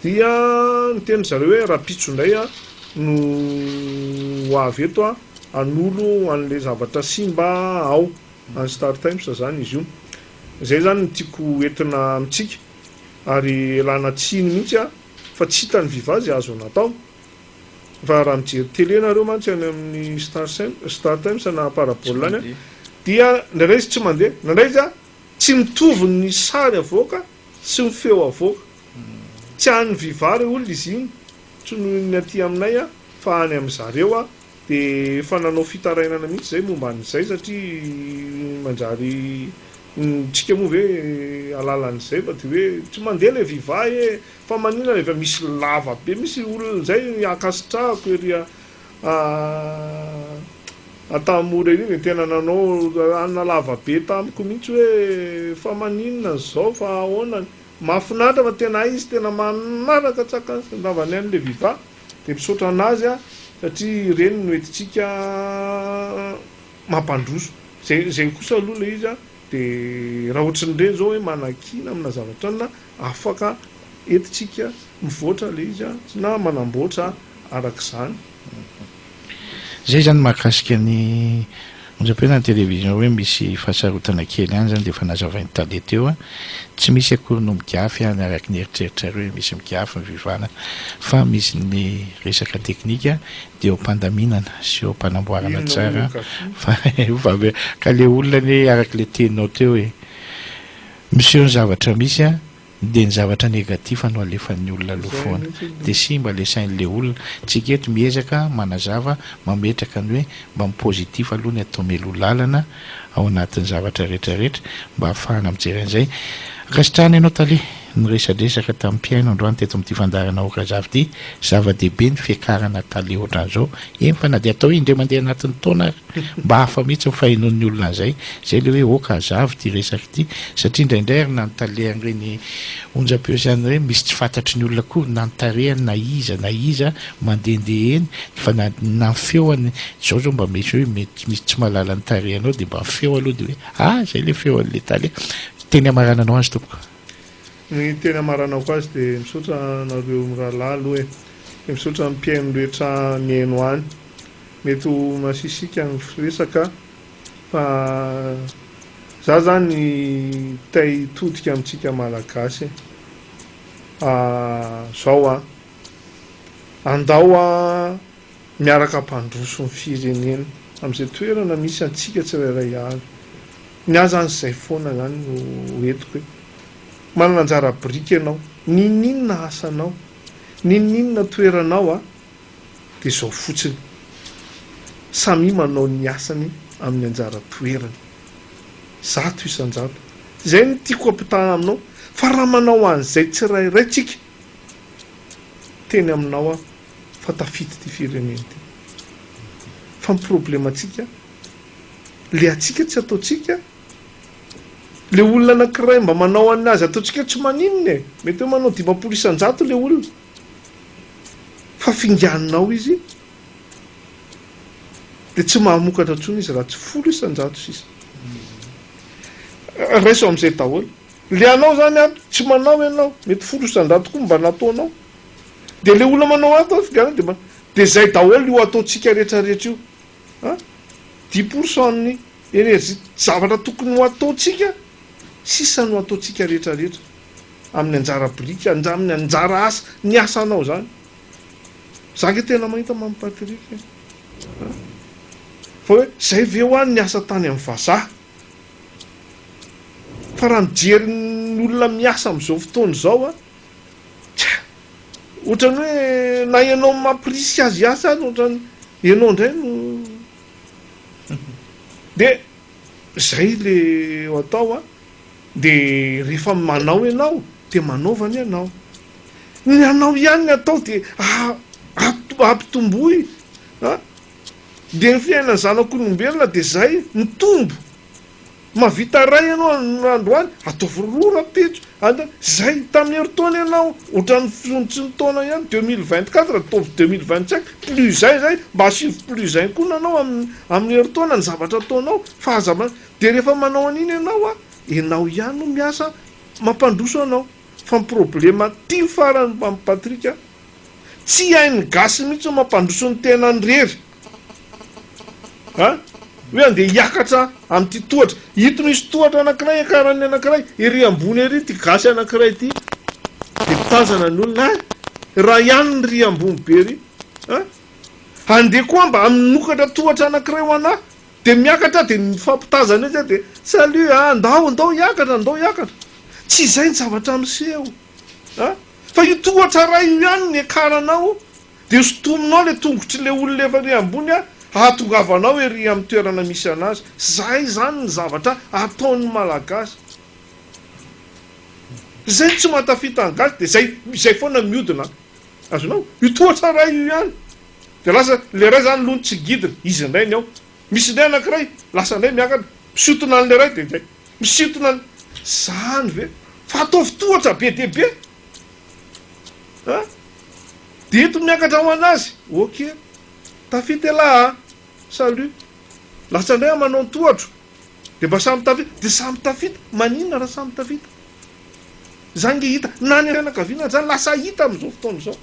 dia niteny ry zareo hoe rahampitso indray aho no ho avy eto aho hanolo an'ilay zavatra simba ao any Star Times izany izy io izay izany no tiako entina amintsika ary ialana tsiny mihitsy aho fa tsy hita ny Viva izay azo natao fa raha mijery télé nareo mantsy any amin'ny star sem star times na parabola any a dia indraindray izy tsy mandeha indraindray izy a tsy mitovy ny sary avoaka sy ny feo avoaka tsy an'ny viva reo olona izy iny tsy noho ny aty aminay a fa any amin'zareo a Dia efa nanao fitarainana mihitsy izay momba an'izay satria manjary ny tsika moa ve alalan'izay fa dia hoe tsy mandeha ilay viva ee fa manina ilay viva misy lava be misy olona izay ankasitrahako ery a Antahamora ery dia tena nanao hanina lava be tamiko mihitsy hoe fa maninona izao fa ahoana mahafinaritra fa tena hay izy tena manaraka tsaka ny ravany any ilay viva. Dia misaotra an'azy a, satria ireny no entintsika mampandroso. Izay, izay kosa aloha ilay izy a, dia raha ohatran'ny ireny izao hoe manakiana amina zavatra inona, afaka entintsika mivoatra ilay izy a, na manamboatra araka izany. Zay zany mahakasika ny onjam-piainana ny télévision hoe misy fahasarotana kely ihany zany dia efa nazavain'i Tale teo a, tsy misy akory no migafy any araka ny eritreritrareo hoe misy migafy ny Viva-na fa misy ny resaka teknika dia eo am-pandaminana sy eo am-panamboarana tsara fa vavela ka le olona anie araka le teninao teo e miseho ny zavatra misy a. Dia ny zavatra negatif no alefan'ny olona aloha foana. Dia simba le sain'le olona. Tsika eto miezaka manazava, mametraka ny hoe mba ny positif aloha ny atao mialoha lalana ao anatin'ny zavatra rehetra rehetra mba hahafahana mijery an'izay. Ankasitrahana ianao Tale. Niresadresaka tamin'ny mpihaino androany teto amin'ity fandaharana Aoka Azafy ity. Zava-dehibe ny fiakarana Tale ohatran'izao. Eny fa na dia atao indray mandeha anatin'ny taona ary. Mba hafa mihitsy ny fahenoan'ny olona an'izay. Izay ilay hoe ok hazava ity resaka ity. Satria indraindray ary na ny tale an'ireny onjam-peo izany ireny misy tsy fantatry ny olona akory na ny tarehany na iza na iza mandehandeha eny fa na na ny feony. Izao izao mba misy hoe mety misy tsy mahalala ny tarehanao dia mba ny feo aloha dia hoe ah izay ilay feo an'ilay tale. Ny teny hamarananao azy tompoko. Ny teny hamaranako azy dia misaotra anareo mirahalahy aloha e. Dia misaotra ny mpihaino rehetra mihaino any. Mety ho masisika ny firesaka fa za zany te hitodika amintsika malagasy zao an! Andao miaraka hampandroso ny firenena amin'izay toerana misy antsika tsirairay avy. Ny ahy zany izay foana zany no entiko e! Manana anjara biriky ianao, n'inon'inona asanao, n'inon'inona toeranao an! dia izao fotsiny, samia manao ny asany amin'ny anjara toerany, zato isan-jato. Izay no tiako ampitaha aminao, fa raha manao an'izay tsirairay tsika, teny aminao aho fa tafita ity firenena ity. Fa ny problemantsika, le antsika tsy ataontsika, le olona anankiray mba manao an'azy ataontsika tsy maninona e, mety hoe manao dimampolo isan-jato le olona, fa finganinao izy dia tsy mahamokatra intsony izy raha tsy folo isan-jato sisa raiso amin'izay daholo le anao zany an tsy manao ianao mety folo isan-jato koa mba nataonao dia le olona manao ato an finganina dia manao dia izay daholo io ataontsika rehetra rehetra io an dix pour cent ny énergie zavatra tokony ho ataontsika sisa no ataontsika rehetra rehetra amin'ny anjara biriky andramin'ny anjara asa ny asanao izany za nge tena mahita mamy Patrick e ah fa hoe zay ve ho any ny asa tany amin'ny vazaha fa raha mijery ny olona miasa amin'izao fotoana izao a tsia ohatran'ny hoe na ianao mampirisika azy hiasa azy ohatran'ny ianao indray no dia zay le atao a De rehefa manao ianao de manaova ny anao. Ny anao ihany ny atao de ampitomboy a! De ny fiainan'ny zanak'olombelona de zay, mitombo! Mahavita ray ianao androany, ataovy roa rahampitso, zay! Tamin'ny herintaona ianao ohatran'ny fihontson'ny taona ihany, deux mille vingt quatre ataovy deux mille vingt cinq, plus zay zay, mba asivy plus zay koa ny anao amin'ny herintaona ny zavatra ataonao fa aza. Dia rehefa manao an'iny ianao a, ianao ihany no miasa mampandroso anao, fa ny problème aty ny farany Mamy Patrick a, tsy hain'ny gasy mihitsy ny mampandroso ny tenany rery a, hoe andeha hiakatra amin'ity tohatra, ito misy tohatra anakiray iakaran'ny anakiray, ery ambony ery ity gasy anakiray ity dia mitazana ny olona, hay raha ihany ny ry ambony be ry a, andeha koa mba minokatra tohatra anakiray ho anah, Dia miakatra dia mifampitazana etsy dia salut a, ndao ndao hiakatra ndao hiakatra. Tsy izay ny zavatra miseho a! Fa io tohatra iray io ihany no hiakaranao dia hosintominao ilay tongotr'ilay olona efa ery ambony a, hahatongavanao ery amin'ny toerana misy anazy. Izay izany ny zavatra ataon'ny Malagasy. Izay no tsy mahatafita ny gasy dia izay izay foana miodina. Azonao? Io tohatra iray io ihany. Dia lasa ilay iray izany aloha no tsy gidiny, izy indray ny ao. Misy indray anankiray, lasa indray miakatra, misintona an'ilay iray dia izay. Misintona an'i. Izany ve? Fa ataovy tohatra be dia be an! Dia eto miakatra ho an'azy. Ok. Tafita elah a! Salut. Lasa indray amanao ny tohatro. Dia mba samy tafita. Dia samy tafita. Maninona raha samy tafita? Izany nge hita. Na ny fianakaviana aza lasa hita amin'izao fotoana izao.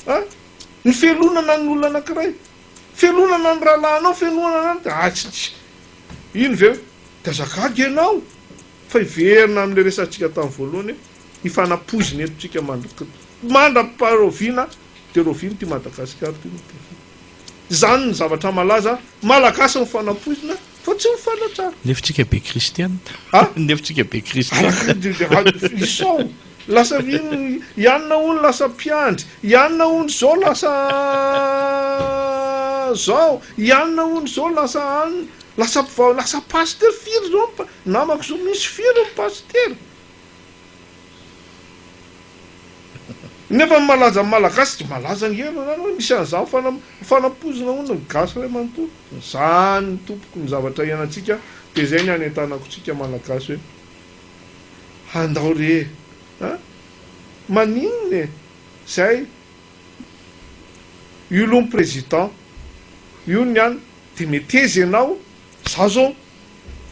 An! Ny fialonana ny olona anankiray, fialonana ny rahalahinao, fialonana ny anao, ah tsy tsy, iny ve hoe, Tazà gaga ianao! Fa hiverina amin'ilay resahantsika tamin'ny voalohany hoe, ny fanapoizina eto tsika mandra, mandra-paharoviana dia roviana ity Madagasikara ity no tena, izany ny zavatra malaza, Malagasy ny fanapoizina, Fa tsy mifanatra ary. Lefotsika be kristianina. A? Lefotsika be kristianina. Izao lasa i anona hono lasa mpiandry, i anona hono izao lasa izao, i anona hono izao lasa anona, lasa mpivavaka, lasa pasitera, firy izao ny namako izao, misy firy ny pasitera? Nefa ny malaza ny malagasy tsy malaza ange aloha zany hoe misy an'izany fanampoizina hono ny gasy ray manontolo zany tompoko ny zavatra ianantsika de zay ny anentanako tsika malagasy hoe handao re an maninona e zay io loha ny president io ny an de meteza ianao za zao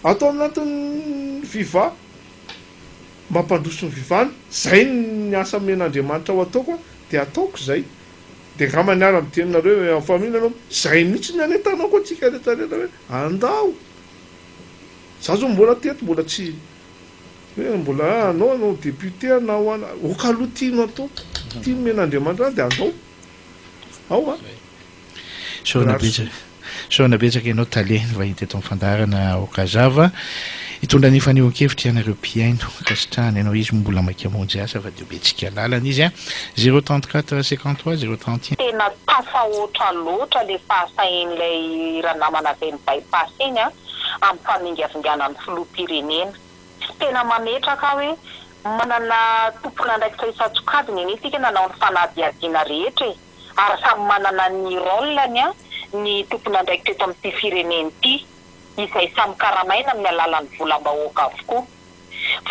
ato amin'antony viva mampandroso ny vivano, zay ny asa omen'Andriamanitra ho ataoko an, de ataoko izay, de ngamba niara niteny nareo en famille nareo, zay mihitsy ny anentanako antsika rehetra rehetra hoe andao, za zao mbola teto mbola tsy hoe mbola ah anao anao député anao an, ok aloha tianao atao, tia omen'Andriamanitra anao de andao, ao an. Sorona betsaka ianao Tale vahiny teto amin'ny fandaharana Aoka Zava hitondra ny fanehoan-kevitra ianareo mpihaino ankasitrahana ianao izy moa mbola maika hamonjy asa fa dia be tsika lalana izy a zero trente quatre cinquante trois zero trente et un. Tena tafahoatra loatra le fahasahin'ilay ranamana avy any Bypass iny an, amin'ny famingavingana ny filoham-pirenena. Tena mametraka aho hoe manana tompon'andraikitra isan-tsokajiny anie isika nanao ny fanadihadiana rehetra e! ary samy manana ny rôle-ny ny tompon'andraikitra eto amin'ity firenena ity, izay samy karamaina amin'ny alalan'ny volam-bahoaka avokoa.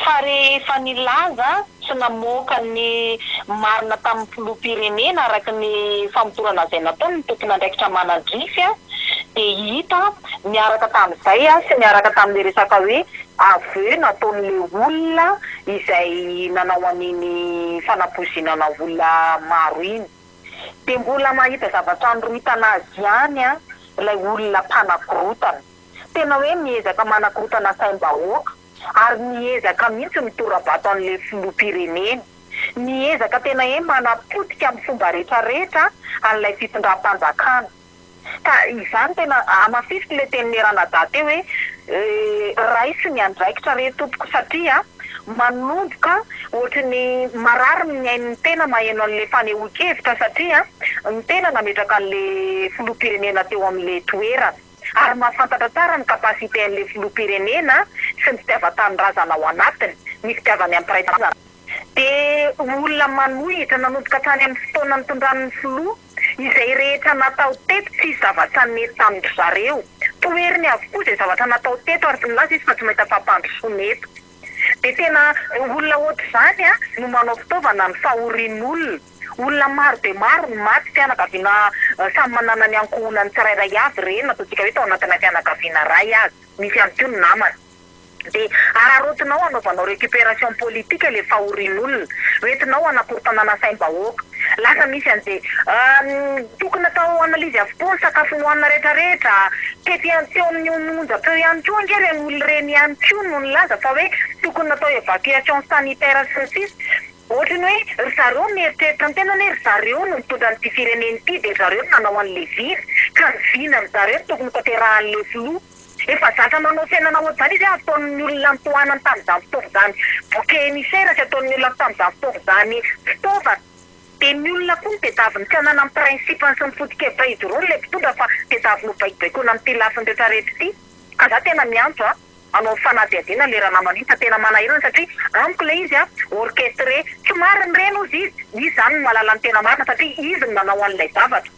Fa rehefa nilaza sy namoaka ny marina tamin'ny filoham-pirenena araka ny famotorana izay nataony ny tompon'andraikitra manadrify dia hita niaraka tamin'izay sy niaraka tamin'ilay resaka hoe aveu nataon'ilay olona izay nanao an'iny fanapoizinana olona maro iny dia mbola mahita zavatra anoritana azy ihany ilay olona mpanakorotana. Tena hoe miezaka manakorotana saim-bahoaka ary miezaka mihitsy mitorabato an'ilay filoham-pirenena. Miezaka tena hoe manapotika amin'ny fomba rehetra rehetra an'ilay fitondram-panjakana. Ka izany tena hamafisiko ilay tenin'i Ranadahy teo hoe raiso ny andraikitra re tompoko satria manomboka ohatry ny marary ny ain'ny tena maheno an'ilay fanehoan-kevitra satria ny tena nametraka an'ilay filoham-pirenena teo amin'ilay toerana ary mahafantatra tsara ny capacité an'ilay filoham-pirenena sy ny fitiavan-tanindrazana ao anatiny, ny fitiavany amin'ny mpiray tanindrazana. Dia olona manohitra nanomboka hatrany amin'ny fotoana nitondrany ny filoha. Izay rehetra natao teto tsisy zavatra nety tamin-dry zareo. Toheriny avokoa izay zavatra natao teto ary tsy milaza izy fa tsy mahita fampandrosoana eto. Dia tena ireo olona ohatr'izany no manao fitaovana ny fahorian'olona. Olona maro dia maro no maty, fianakaviana samy manana ny ankohonany tsirairay avy ireny, na ataontsika hoe tao anatina fianakaviana iray aza. Misy ihany koa ny namana. Dia hararaotinao hanaovanao récupération politique ilay fahorian'olona. Ho entinao hanakorontana na saim-bahoaka. Lasa misy an'izay Uhm, tokony atao analyse avokoa ny sakafo nohanina rehetra rehetra. Tety an, teo amin'ny ony onjam-peo ihany koa ange ireny olona ireny ihany koa no nilaza fa hoe tokony natao évacuation sanitaire sy ny sisa. Ohatry ny hoe ry zareo mieritreritra ny tenany hoe ry zareo no mitondra an'ity firenena ity dia ry zareo no nanao an'ilay vina. Ka ny vina ry zareo no tokony hotanterahan'ilay filoha. Efa zatra nanao fiainana ohatr'izany izy hoe ataon'ny olona ny tohanany tamin'izany fotoana izany bouquet émissaire sy ataon'ny olona tamin'izany fotoana izany fitaovana. Dia ny olona koa no tedaviny tsy hanana ny principe-ny sy ny foto-kevitra izy roa ilay mpitondra fa tedaviny ho baikobaikoina amin'ity lafiny rehetra rehetra ity. Ka za tena miantso a, hanao ny fanadihadiana le ranamana iny fa tena manahirana satria amiko le izy a orchestré. Tsy marina ireny ozy izy, izy zany no mahalala ny tena marina satria izy no nanao an'ilay zavatra.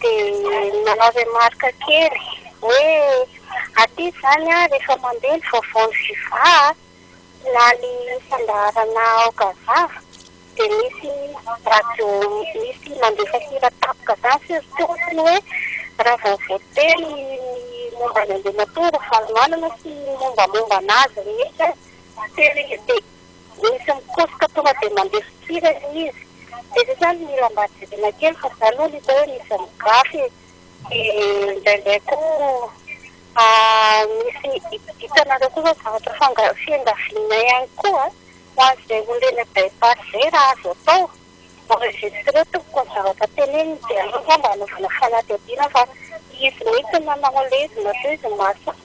Dia nanao remarque kely hoe aty izany an, rehefa mandeha ny vaovao ny Viva an, na ny fandaharana ao Gaza dia misy radio misy mandefa hira tampoka izany surtout ohatran'ny hoe raha vao voateny ny momba an'Andriamatoa Ravalomanana sy ny mombamomba an'azy rehetra. Misy mikosoka tonga dia mandeha fikirany izy. Dia misy aza mila mba jerena kely fa za aloha no hita hoe misy migafy e. Dia indraindray koa misy hitanareo koa izao zavatra fanga- fiangavianay ihany koa ho an'izay olona eny am-bypass izay raha azo atao, enregistreo tompoko ny zavatra teneniny dia aleo angamba anaovana fanadihadiana fa izy mihitsy no nanao ilay izy na koa izy no mahasahy.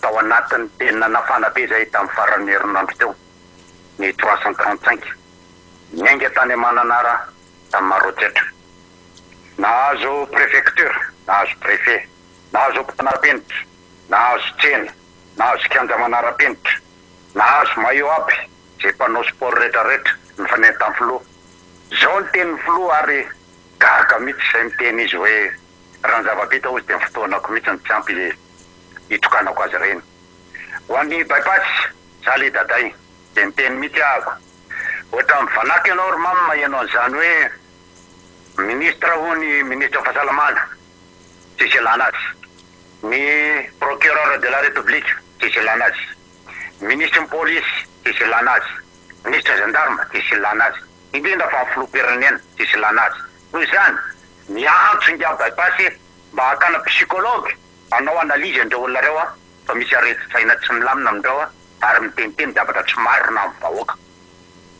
tao anatin'ny penina nafana be izay tamin'ny faran'ny herinandro teo, ny trois cent trente cinq, niainga tany Mananara tamin'ny Maroantsetra. Nahazo prefecture, nahazo préfet, nahazo hopitaly manaram-penitra, nahazo tsena, nahazo kianja manaram-penitra, nahazo maillot aby izay mpanao sport rehetrarehetra, ny fanentan'ny filoha. Izao ny tenin'ny filoha ary gaga mihitsy izay miteny izy hoe. Raha ny zava-bita hozy dia ny fotoanako mihitsy no tsy ampy hitokanako azy ireny. Ho an'ny bypass, zah le daday dia niteny mihitsy ahako, ohatra mivanaka ianao ry mama maheno an'izany hoe ministre hono i ministre fahasalamana tsisy ilana azy, ny procureur de la republique tsisy ilana azy, ministre ny polisy tsisy ilana azy, ministre gendarme tsisy ilana azy, indrindra fa ny filoham-pirenena tsisy ilana azy. Noho izany, miantso ingahy Bypass mba hakana psychologue hanao analyse an'ireo olona ireo fa misy aretin-tsaina tsy milamina amin'ireo ary miteniteny zavatra tsy marina amin'ny vahoaka.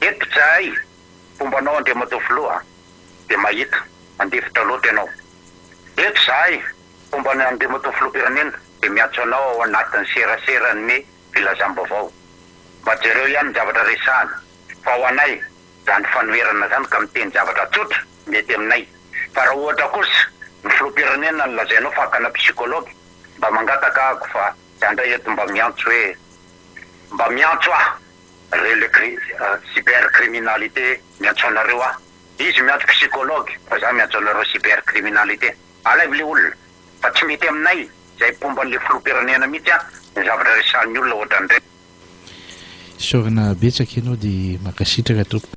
Eto izahay, fomba anao Andriamatoa Filoha dia mahita, mandefitra loatra ianao. Eto izahay, fomba an'i Andriamatoa Filoham-pirenena dia miantso anao ao anatin'ny seraseran'ny filazam-baovao mba jereo ihany ny zavatra resahana fa ho anay, zany fanoherana zany ka miteny zavatra tsotra mety aminay fa raha ohatra kosa ny filoham-pirenena no lazainao fa akana psychologue mba mangataka ako fa za ndray eto mba miantso hoe mba miantso aho re le cyber criminalité miantso anareo aho izy miantso psychologue fa za miantso anareo cyber criminalité alaivo le olona fa tsy mety aminay zay mpomba anle filoham-pirenena mihitsy a ny zavatra resahan'ny olona ohatran'ireny. Isaorana betsaka ianao dia mankasitraka tompoko.